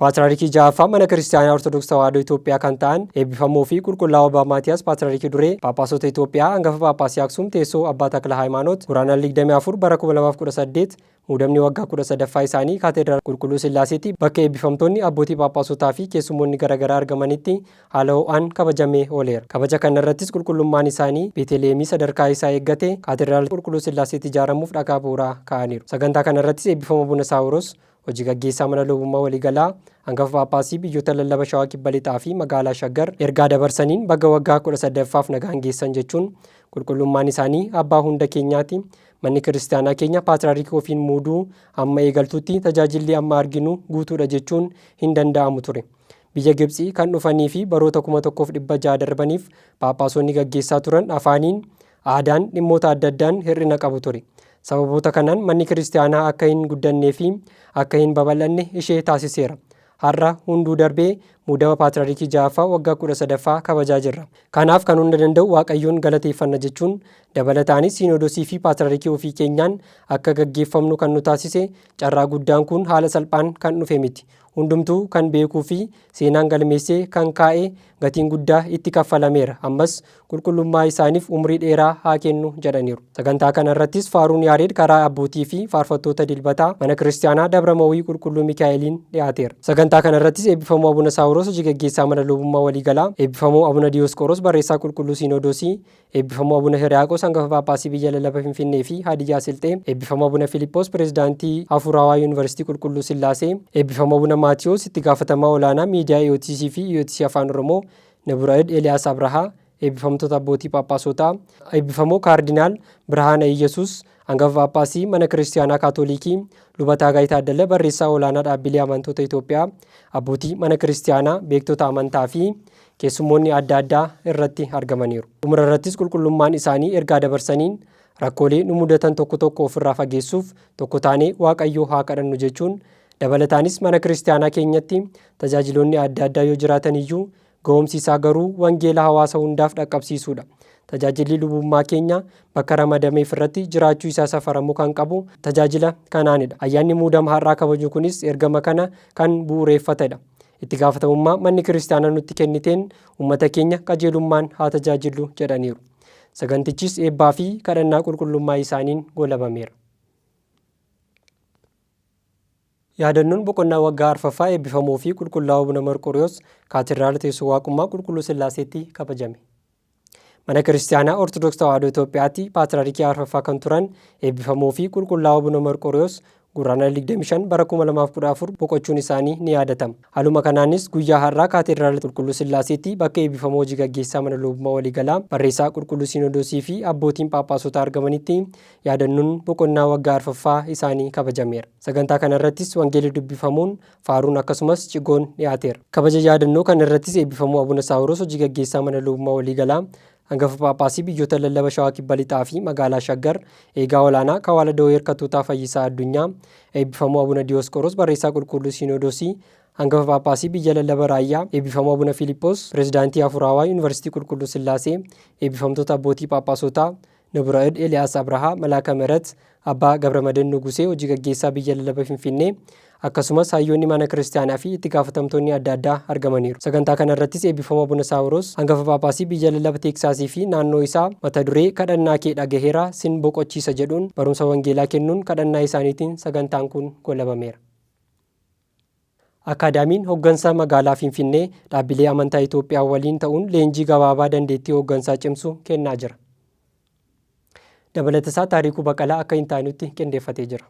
Paatraarikii ja'affaa Mana Kiristaanaa Ortodoks Tawaahidoo Itoophiyaa kan ta'an eebbifamoo fi Qulqullaa'oo Abbaa Maatiyaas Paatraarikii Duree Phaaphaasota Itoophiyaa Hangafa Phaaphaasii Aksuum Teessoo Abbaa Takla Haayimaanoot Guraandhala 24 bara 2018 muudamni waggaa 13ffaa isaanii Kaateedraala Qulqulluu Sillaaseetti bakka eebbifamtoonni abbootii Phaaphaasotaa fi keessummoonni garaagaraa argamanitti haala ho'aan kabajamee ooleera. Kabaja kana irrattis Qulqullummaan isaanii Beeteliheemii sadarkaa isaa eeggate Kaateedraala Qulqulluu Sillaaseetti ijaaramuuf dhagaa bu'uuraa kaa'aniiru. Sagantaa kana irrattis eebbifamoo Abuna Saawuroos Hoji Gaggeessaa Mana Lubummaa Waliigalaa Angafa Phaaphaasii Biyyoota Lallaba Shawaa Kibba Lixaa fi Magaalaa Shaggar ergaa dabarsaniin baga waggaa 18ffaaf nagaan geessan jechuun, Qulqullummaan isaanii Abbaa hunda keenyaati, Manni Kiristiyaanaa keenya Paatriyaarikii ofiin muuduu amma eegaltutti tajaajilli amma arginu guutuudha jechuun hin danda'amu ture. Biyya Gibtsii kan dhufanii fi baroota 1600 darbaniif Phaaphaasonni gaggeessaa turan afaaniin Aadaan dhimmoota adda addaan hir'ina qabu ture. Sababoota kanaan manni kiristiyaanaa akka hin guddannee fi akka hin babal'anne ishee taasiseera. Har'a hunduu darbee muudama paatirarikii ja'affaa waggaa kudha sadaffaa kabajaa jirra. Kanaaf kan hunda danda'u Waaqayyoon galateeffanna jechuun dabalataanis siinoodosii fi paatirarikii ofii keenyaan akka gaggeeffamnu kan nu taasise carraa guddaan kun haala salphaan kan dhufe miti. Hundumtuu kan beekuu fi seenaan galmeessee kan kaa'e gatiin guddaa itti kaffalameera. Ammas qulqullummaa isaaniif umrii dheeraa haa kennu jedhaniiru. Sagantaa kana irrattis faaruun Yaareed karaa abbootii fi faarfattoota Dilbataa Mana Kiristiyaanaa Dabra Mawii Qulqulluu Mikaa'eliin dhiyaateera. Sagantaa kana irrattis Eebbifamoo Abuna Saawuroos Hoji Gaggeessaa Mana Lubummaa Waliigalaa, Eebbifamoo Abuna Diyoosqooroos Barreessaa Qulqulluu Siinodoosii, Eebbifamoo Abuna Hiriyaaqos Hangafa Phaaphaasii Biyya Lallaba Finfinnee fi Haadiyyaa Silxee, Eebbifamoo Abuna Filiphoos Pireezidaantii Hafuuraawaa Yuunivarsiitii Qulqulluu Sillaasee, Eebbifamoo Abuna Maatiwoos Itti Gaafatamaa Olaanaa Miidiyaa EOTC fi EOTC Afaan Oromoo, Naburaid Eliyaas Abrahaa, Eebbifamtoota Abbootii Phaaphaasotaa, Eebbifamoo Kaardinaal Birhaana Iyyasuus, Hangafa Phaaphaasii Mana Kiristiyaanaa Kaatooliikii, Luba Taagaay Taaddala Barreessaa Olaanaa Dhaabbilee Amantoota Itoophiyaa, Abbootii Mana Kiristiyaanaa, Beektota Amantaa fi keessummoonni adda addaa irratti argamaniiru. Xumura irrattis qulqullummaan isaanii ergaa dabarsaniin rakkoolee nu mudatan tokko tokko ofirraa fageessuuf tokko taanee Waaqayyoo haa kadhannu jechuun dabalataanis mana kiristiyaanaa keenyatti tajaajiloonni adda addaa yoo jiraatan iyyuu ga'oomsi isaa garuu wangeela hawaasa hundaaf dhaqqabsiisuudha. Tajaajilli lubummaa keenya bakka ramadameef irratti jiraachuu isaa safaramuu kan qabu tajaajila kanaanidha. Ayyaanni muudama har'aa kabajnu kunis ergama kana kan bu'ureeffatedha. Itti gaafatamummaa manni kiristaanaa nutti kenniteen uummata keenya qajeelummaan haa tajaajillu jedhaniiru. Sagantichis eebbaa fi kadhannaa qulqullummaa isaaniin goolabameera. Yaadannoon boqonnaa waggaa arfaffaa eebbifamuu fi qulqullaa'uu Abuna Marqoriyoos Kaatedraala Teessoo Waaqummaa Qulqulluu Sillaaseetti kabajame. Mana Kiristaanaa Ortodoks Tawaahidoo Itoophiyaatti Paatirarikii arfaffaa kan turan eebbifamoo fi qulqullaa'oo Abuna Marqooriyoos Gurraandhala 25 bara 2014 boqochuun isaanii ni yaadatama. Haaluma kanaanis guyyaa har'aa Kaateediraala Qulqulluu Sillaaseetti bakka eebbifamoo hojii gaggeessaa Mana Lubummaa Waliigalaa, Barreessaa Qulqulluu Siinodoosii fi abbootiin Phaaphaasotaa argamanitti yaadannoon boqonnaa waggaa arfaffaa isaanii kabajameera. Sagantaa kanarrattis Wangeelli dubbifamuun Faaruun akkasumas cigoon dhiyaateera. Kabaja yaadannoo kana irrattis eebbifamuu Abuna Saawuroos Hojii Gaggeessaa Mana Lubummaa Waliigalaa, Angafa Phaaphaasii Biyyoota Lallaba Shawaa Kibba Lixaa fi Magaalaa Shaggar, Eegaa Olaanaa Kawaala Dawee Hirkatootaa Fayyisaa Addunyaa, Eebbifamuu Abuna Diyoosqoroos Barreessaa Qulquulluu Siinoodoosii, Angafa Phaaphaasii Biyya Lallaba Raayyaa, Eebbifamuu Abuna Fiiliphoos, Pirezidaantii Hafuuraawaa Yuunivarsiitii Qulqulluu Sillaasee, Eebbifamtoota Abbootii Phaaphaasotaa, Nabiraed Eliyaas Abrahaa, Malaaka Mihirat, Abbaa Gabramaden Nugusee, Hojii Gaggeessaa Biyya Lallaba Finfinnee, akkasumas Hayyoonni Mana Kiristiyaanaa fi Itti Gaafatamtoonni adda addaa argamaniiru. Sagantaa kana irrattis Eebbifama Abuna Saawiroos, Hangafa Phaaphaasii Biyya Lallaba Teeksaasii fi Naannoo isaa, mata duree Kadhannaa kee dhagaheera, sin boqochiisa jedhuun barumsa Wangeelaa kennuun kadhannaa isaaniitiin sagantaan kun goolabameera. Akaadaamiin Hoggansa Magaalaa Finfinnee dhaabbilee amantaa Itoophiyaa waliin ta'uun leenjii gabaabaa dandeettii hooggansaa cimsu kennaa jira. Dabalatasaa Taarikuu Baqalaa akka hin taanutti qindeeffatee jira.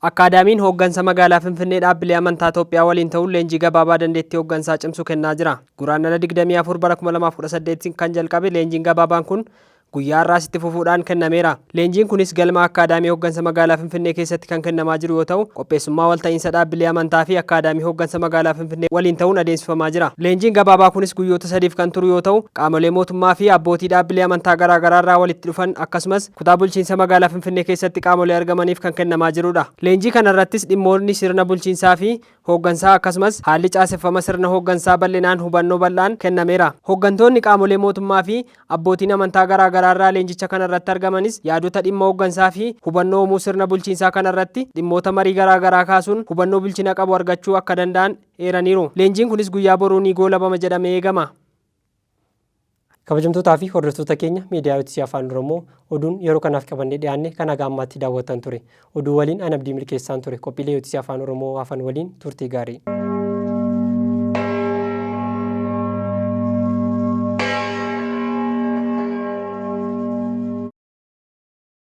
Akaadaamiin Hoggansa Magaalaa Finfinnee dhaabbilee amantaa Itoophiyaa waliin ta'uun leenjii gabaabaa dandeettii hooggansaa cimsu kennaa jira. Guraandhala 24 bara 2018 kan jalqabe leenjiin gabaabaan kun guyyaa har'aas itti fufuudhaan kennameera. Leenjiin kunis galma Akkaadaamii Hoggansa Magaalaa Finfinnee keessatti kan kennamaa jiru yoo ta'u, qopheessummaa walta'iinsa dhaabbilee amantaa fi Akkaadaamii Hoggansa Magaalaa Finfinnee waliin ta'uun adeemsifamaa jira. Leenjiin gabaabaa kunis guyyoota sadiif kan turu yoo ta'u, qaamolee mootummaa fi abbootii dhaabbilee amantaa garaa garaa irraa walitti dhufan akkasumas Kutaa Bulchiinsa Magaalaa Finfinnee keessatti qaamolee argamaniif kan kennamaa jirudha. Leenjii kana irrattis dhimmootni sirna bulchiinsaa fi hooggansaa akkasumas haalli caaseffama sirna hooggansaa bal'inaan hubannoo bal'aan kennameera. Hooggantoonni qaamolee mootummaa fi abbootiin amantaa garaa garaa irraa leenjicha kana irratti argamanis yaadota dhimma hooggansaa fi hubannoo uumuu sirna bulchiinsaa kana irratti dhimmoota marii garaa garaa kaasuun hubannoo bilchina qabu argachuu akka danda'an eeraniiru. Leenjiin kunis guyyaa boruu ni goolabama jedhamee eegama. Kabajamtootaa fi hordoftoota keenya miidiyaa Yotisii Afaan Oromoo oduun yeroo kanaaf qabannee dhiyaanne kan haga ammaatti daawwattan ture. Oduu waliin an Abdii Milkeessaan ture. Qophiilee Yotisii Afaan Oromoo hafan waliin turtii gaarii.